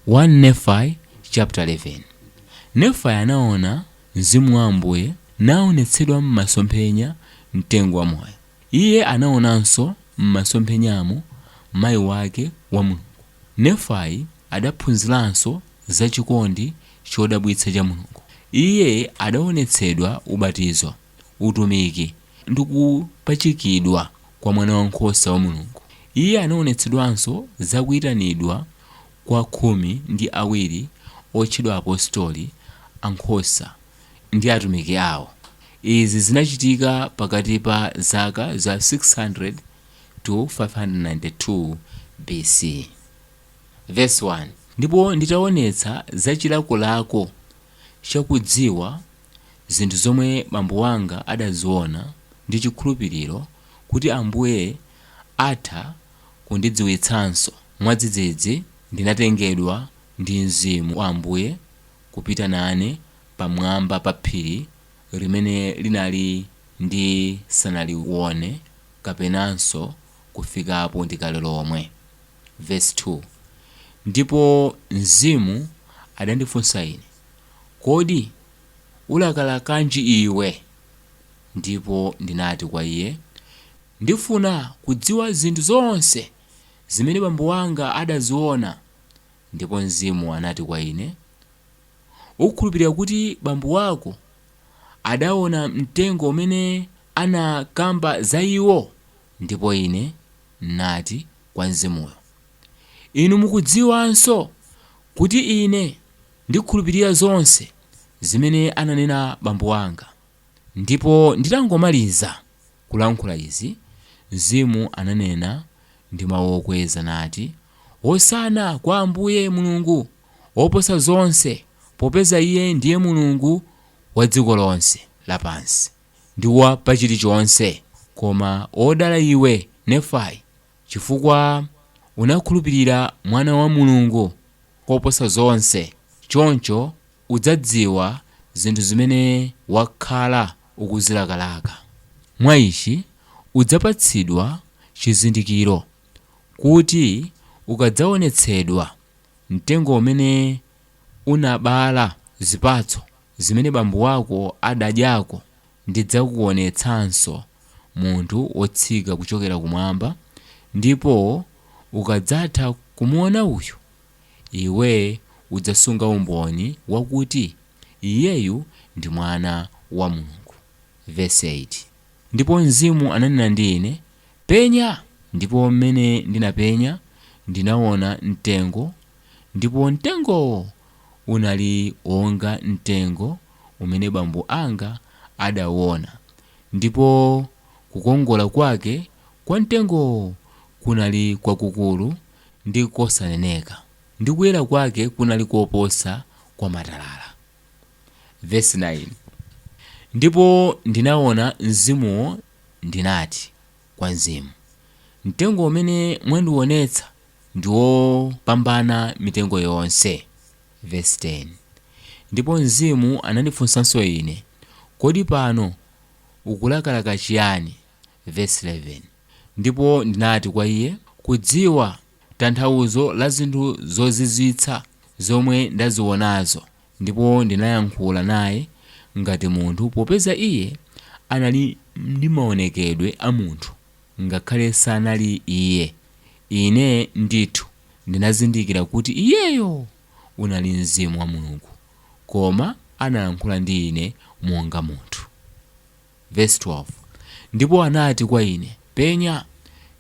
1 Nefai chapter 11 Nefai anaona Mzimu wa Ambuye naonetsedwa m'masomphenya mtengo wa moyo. Iye anaonanso m'masomphenyamo mayi wake wa Mulungu. Nefai adaphunziranso za chikondi chodabwitsa cha Mulungu. Iye adaonetsedwa ubatizo. utumiki, ndi kupachikidwa kwa Mwanawankhosa wa Mulungu. Iye anaonetsedwanso za kuitanidwa kwa khumi ndi awiri otchedwa Apostoli a nkhosa ndi atumiki awo. Izi zinachitika pakati pa zaka za 600 to 592 BC. Verse 1, Ndipo nditaonetsa za chilakolako cha kudziwa Zinthu zomwe bambo wanga adaziona ndi chikhulupiriro kuti Ambuye atha kundidziwitsanso, mwadzidzidzi ndinatengedwa ndi Mzimu wa Ambuye kupita nane pamwamba pa phiri limene linali ndisanalione kapenanso kufikapo ndi kale lomwe. Verse 2, Ndipo Mzimu adandifunsa ine. Kodi ulakalakanji iwe? Ndipo ndinati kwa iye, Ndifuna kudziwa zinthu zonse zimene bambo wanga adaziona. Ndipo Mzimu anati kwa ine, Ukukhulupirira kuti bambo wako adaona mtengo umene anakamba za iwo? Ndipo ine nati kwa Mzimuyo, Inu mukudziwanso kuti ine. Ndikhulupirira zonse zimene ananena bambo anga. Ndipo nditangomaliza kulankhula izi, Mzimu ananena ndi mau okweza nati, Hosana kwa Ambuye Mulungu woposa zonse, popeza Iye ndiye Mulungu wa dziko lonse lapansi, ndi wa pa chilichonse. Koma odala iwe, Nefai. Chifukwa unakhulupirira Mwana wa Mulungu koposa zonse, choncho udzadziwa zinthu zimene wakhala ukuzilakalaka. Mwa ichi udzapatsidwa chizindikiro, kuti ukadzaonetsedwa, mtengo umene unabala zipatso zimene bambo wako adadyako Ndidzakuonetsanso munthu wotsika kuchokera kumwamba, ndipo ukadzatha kumuona uyu, iwe udzasunga umboni wakuti iyeyu ndi Mwana wa Mulungu. Vesi 8, Ndipo Mzimu ananena ndi ine, Penya! Ndipo m'mene ndinapenya, ndinaona mtengo, ndipo mtengowo unali wonga mtengo umene bambo anga adauona, ndipo kukongola kwake kwa mtengowo kunali kwakukulu ndi kosaneneka, ndi kuyera kwake kunali koposa kwa matalala. Vesi 9, Ndipo ndinaona mzimuwo, ndinati kwa mzimu, Mtengo umene mwandiwonetsa ndi wopambana mitengo yonse. Vesi 10, Ndipo Mzimu anandifunsanso ine, Kodi pano ukulakalaka chiyani? Vesi 11, Ndipo ndinati kwa iye, Kudziwa tanthauzo la zinthu zozizwitsa zomwe ndazionazo. Ndipo ndinayankhula naye ngati munthu, popeza iye anali ndi maonekedwe a munthu. Ngakhale sanali iye, ine ndithu ndinazindikira kuti iyeyo unali Mzimu wa Mulungu, koma analankhula ndi ine monga munthu. Vesi 12, Ndipo anati kwa ine, Penya!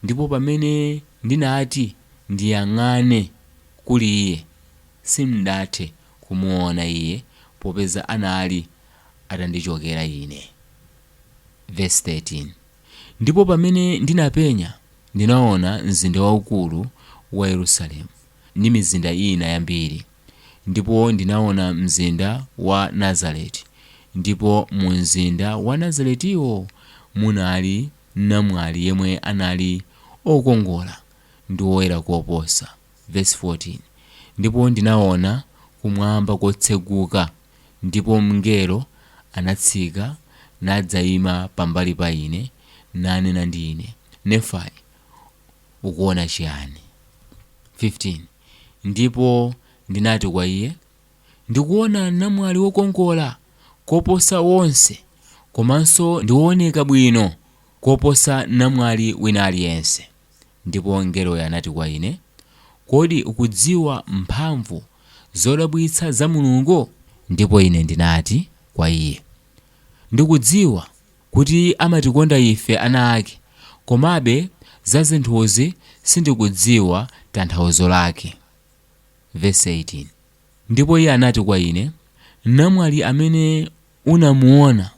Ndipo pamene ndinati ndiyang'ane kuli iye, sindathe kumuona iye, popeza anali atandichokera ine. Vesi 13. Ndipo pamene ndinapenya, ndinaona mzinda waukulu wa Yerusalemu, ndi mizinda ina yambiri, ndipo ndinaona mzinda wa Nazareti, ndipo mu mzinda wa Nazaretiwo munali namwali yemwe anali okongola ndi woyera koposa. Vesi 14, Ndipo ndinaona kumwamba kotseguka, ndipo mngelo anatsika nadzaima pambali pa ine, nanena ndi ine, Nefai, ukuona chiyani? 15 ndipo ndinati kwa iye, Ndikuona namwali wokongola koposa onse, komanso ndi wooneka bwino koposa namwali wina aliyense. Ndipo mngeloyo anati kwa ine, Kodi ukudziwa mphamvu zodabwitsa za Mulungu? Ndipo ine ndinati kwa iye, Ndikudziwa kuti amatikonda ife ana ake, komabe za zinthuzi sindikudziwa tanthauzo lake. Vesi 18, Ndipo iye anati kwa ine, Namwali amene unamuona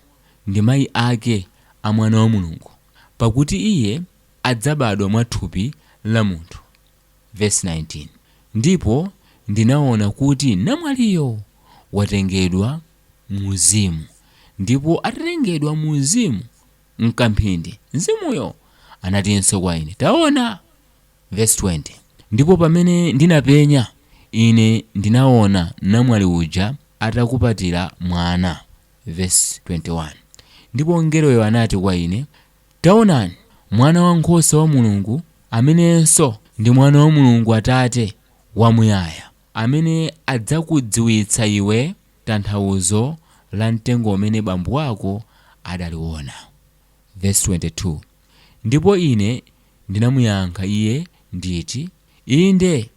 ndi mayi ake a Mwana wa Mulungu, pakuti iye, adzabadwa mwa thupi la munthu. Vesi 19, Ndipo ndinaona kuti namwaliyo watengedwa mu Mzimu, ndipo atatengedwa mu Mzimu, m'kamphindi Mzimuyo anatinso kwa ine, Taona! Vesi 20, Ndipo pamene ndinapenya, ine ndinaona namwali uja atakupatira mwana. Vesi 21, Ndipo mngeloyo anati kwa ine, Taonani, Mwana wa Nkhosa wa Mulungu, amenenso ndi Mwana wa Mulungu Atate Wamuyaya, amene adzakudziwitsa iwe tanthauzo la mtengo umene bambo wako adaliwona. Vesi 22, Ndipo ine ndinamuyankha iye nditi, Inde,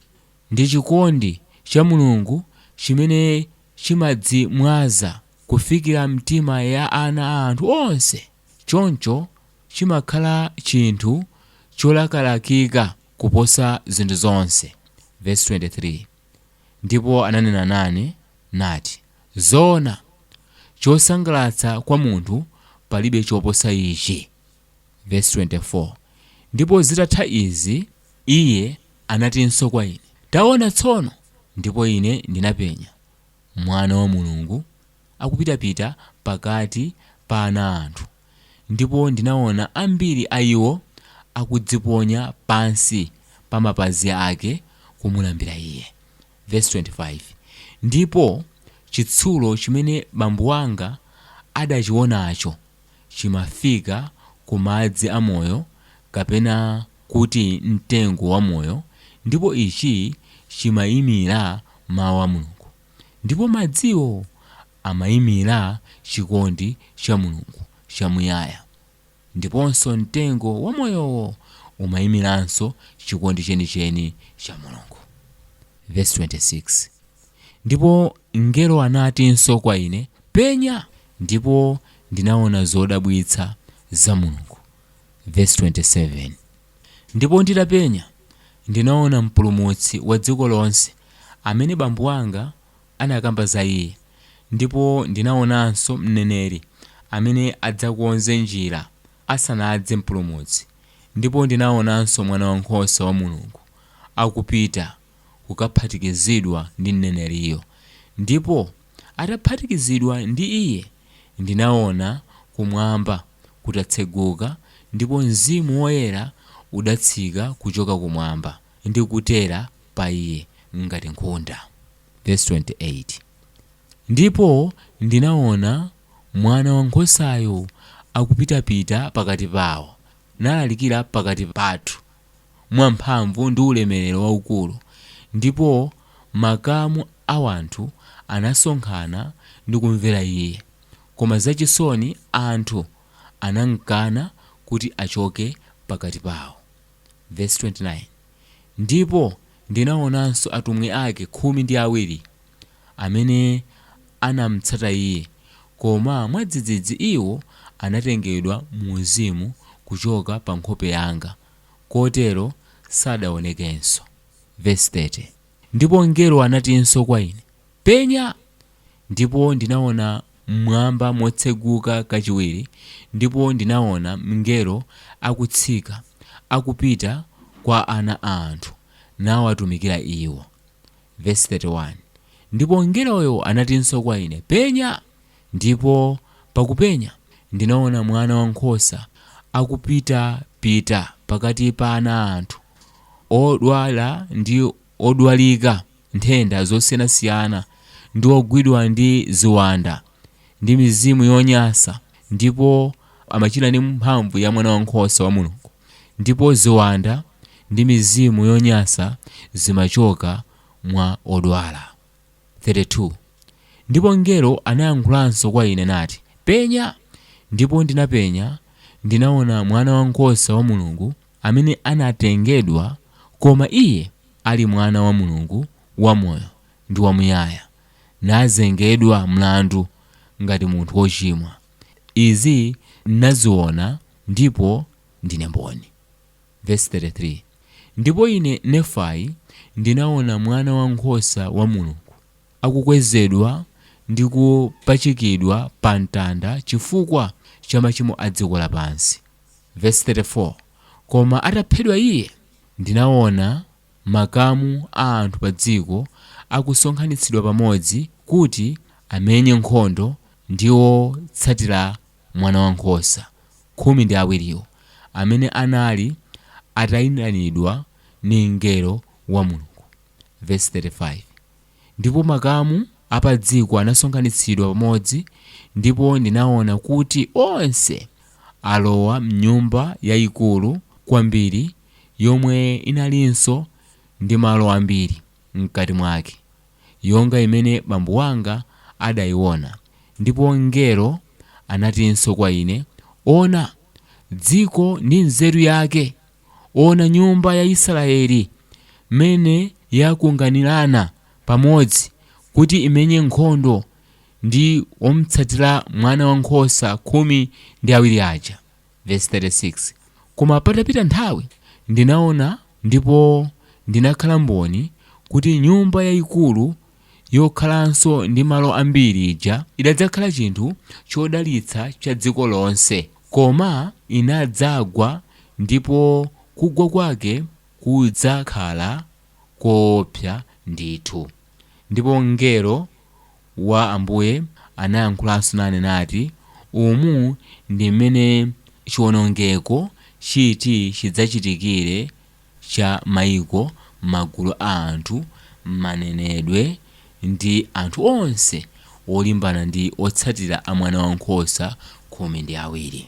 ndi chikondi cha Mulungu chimene chimadzimwaza kufikira m'mitima ya ana a anthu onse. Choncho chimakhala chinthu cholakalakika kuposa zinthu zonse. Vesi 23, Ndipo ananena nane, nati, Zoona, chosangalatsa kwa munthu palibe choposa ichi. Vesi 24, Ndipo zitatha izi Iye anatinso kwa ine, Taona tsono! Ndipo ine ndinapenya, Mwana wa Mulungu akupitapita pakati pa ana a anthu, ndipo ndinaona ambiri a iwo akudziponya pansi pa mapazi ake kumulambira iye. Vesi 25, Ndipo chitsulo chimene bambo wanga adachionacho chimafika ku madzi a moyo, kapena kuti mtengo wa moyo, ndipo ichi chimaimira Mawu a Mulungu. Ndipo madziwo amaimira chikondi cha Mulungu chamuyaya, ndiponso mtengo wa moyowo umaimiranso chikondi chenicheni cha Mulungu. Vesi 26, Ndipo mngelo anatinso kwa ine, Penya! Ndipo ndinaona zodabwitsa za Mulungu. Vesi 27. Ndipo nditapenya, ndinaona Mpulumutsi wa dziko lonse, amene bambo wanga anakamba za iye, ndipo ndinaonanso mneneri amene adzakonze njira asanadze Mpulumutsi, ndipo ndinaonanso Mwanawankhosa wa Mulungu akupita kukaphatikizidwa ndi mneneriyo, ndipo. Ataphatikizidwa ndi Iye, ndinaona kumwamba kutatseguka ndipo Mzimu Woyera udatsika kuchoka kumwamba ndi kutera pa Iye ngati nkhunda. Vesi 28, Ndipo ndinaona Mwana wa Nkhosayo akupitapita pakati pawo, nalalikira pakati pathu, mwa mphamvu ndi ulemerero waukulu, ndipo makamu a wanthu anasonkhana ndi kumvera Iye, koma zachisoni anthu anamkana kuti achoke pakati pawo. Vesi 29, Ndipo ndinaonanso atumwi ake khumi ndi awiri, amene anamtsata iye, koma mwadzidzidzi iwo anatengedwa mu uzimu kuchoka pa nkhope yanga, kotero sadawonekenso. Vesi 30, Ndipo mngelo anatinso kwa ine, Penya! Ndipo ndinaona m'mwamba motseguka kachiwiri, ndipo ndinaona mngelo akutsika akupita kwa ana a anthu, nawatumikira iwo. Vesi 31, Ndipo mngeloyo anatinso kwa ine, Penya! Ndipo pakupenya ndinaona Mwana wa nkhosa akupitapita pakati pa ana a anthu, odwala ndi odwalika nthenda zosiyanasiyana, ndi ogwidwa ndi ziwanda, ndi mizimu yonyansa, ndipo amachira ndi mphamvu ya Mwana wa nkhosa wa Mulungu. Ndipo ziwanda ndi mizimu yonyansa zimachoka mwa odwala. 32 ndipo mngelo anayankhulanso kwa ine nati, Penya! Ndipo ndinapenya, ndinaona Mwana wa Nkhosa wa Mulungu amene anatengedwa koma Iye ali Mwana wa Mulungu wamoyo ndi wamuyaya, nazengedwa mlandu ngati munthu wochimwa. Izi ndinaziona Ndipo ndine mboni. Vesi 33, Ndipo ine, Nefai, ndinaona Mwana wa nkhosa wa Mulungu akukwezedwa ndi kupachikidwa pa mtanda chifukwa cha machimo a dziko lapansi, Vesi 34, Koma ataphedwa Iye, ndinaona makamu a anthu padziko akusonkhanitsidwa pamodzi kuti amenye nkhondo ndi otsatira Mwanawankhosa khumi ndi awiriwo amene anali ataitanidwa ndi mngelo wa Mulungu, vesi 35, Ndipo makamu a padziko anasonkhanitsidwa pamodzi, ndipo ndinaona kuti onse alowa m'nyumba yayikulu kwambiri yomwe inalinso ndi malo ambiri. m'kati mwake, yonga imene bambo wanga adaiona. Ndipo mngelo anatinso kwa ine, Ona, dziko ndi nzeru yake! Ona nyumba ya Israyeli, m'mene yakunganirana pamodzi kuti imenye nkhondo ndi omtsatira Mwanawankhosa khumi ndi awiri aja. Vesi 36, Koma patapita nthawi ndinaona ndipo ndinakhala mboni kuti nyumba yaikulu yokhalanso ndi malo ambiri ija idadzakhala chinthu chodalitsa cha dziko lonse, koma inadzagwa ndipo kugwa kwake kudzakhala koopsa ndithu, ndipo mngelo wa Ambuye anayankhulanso nane nati, Umu ndi mmene chiwonongeko chiti chidzachitikire cha maiko, magulu a anthu, manenedwe, ndi anthu onse olimbana ndi otsatira a Mwanawankhosa khumi ndi awiri.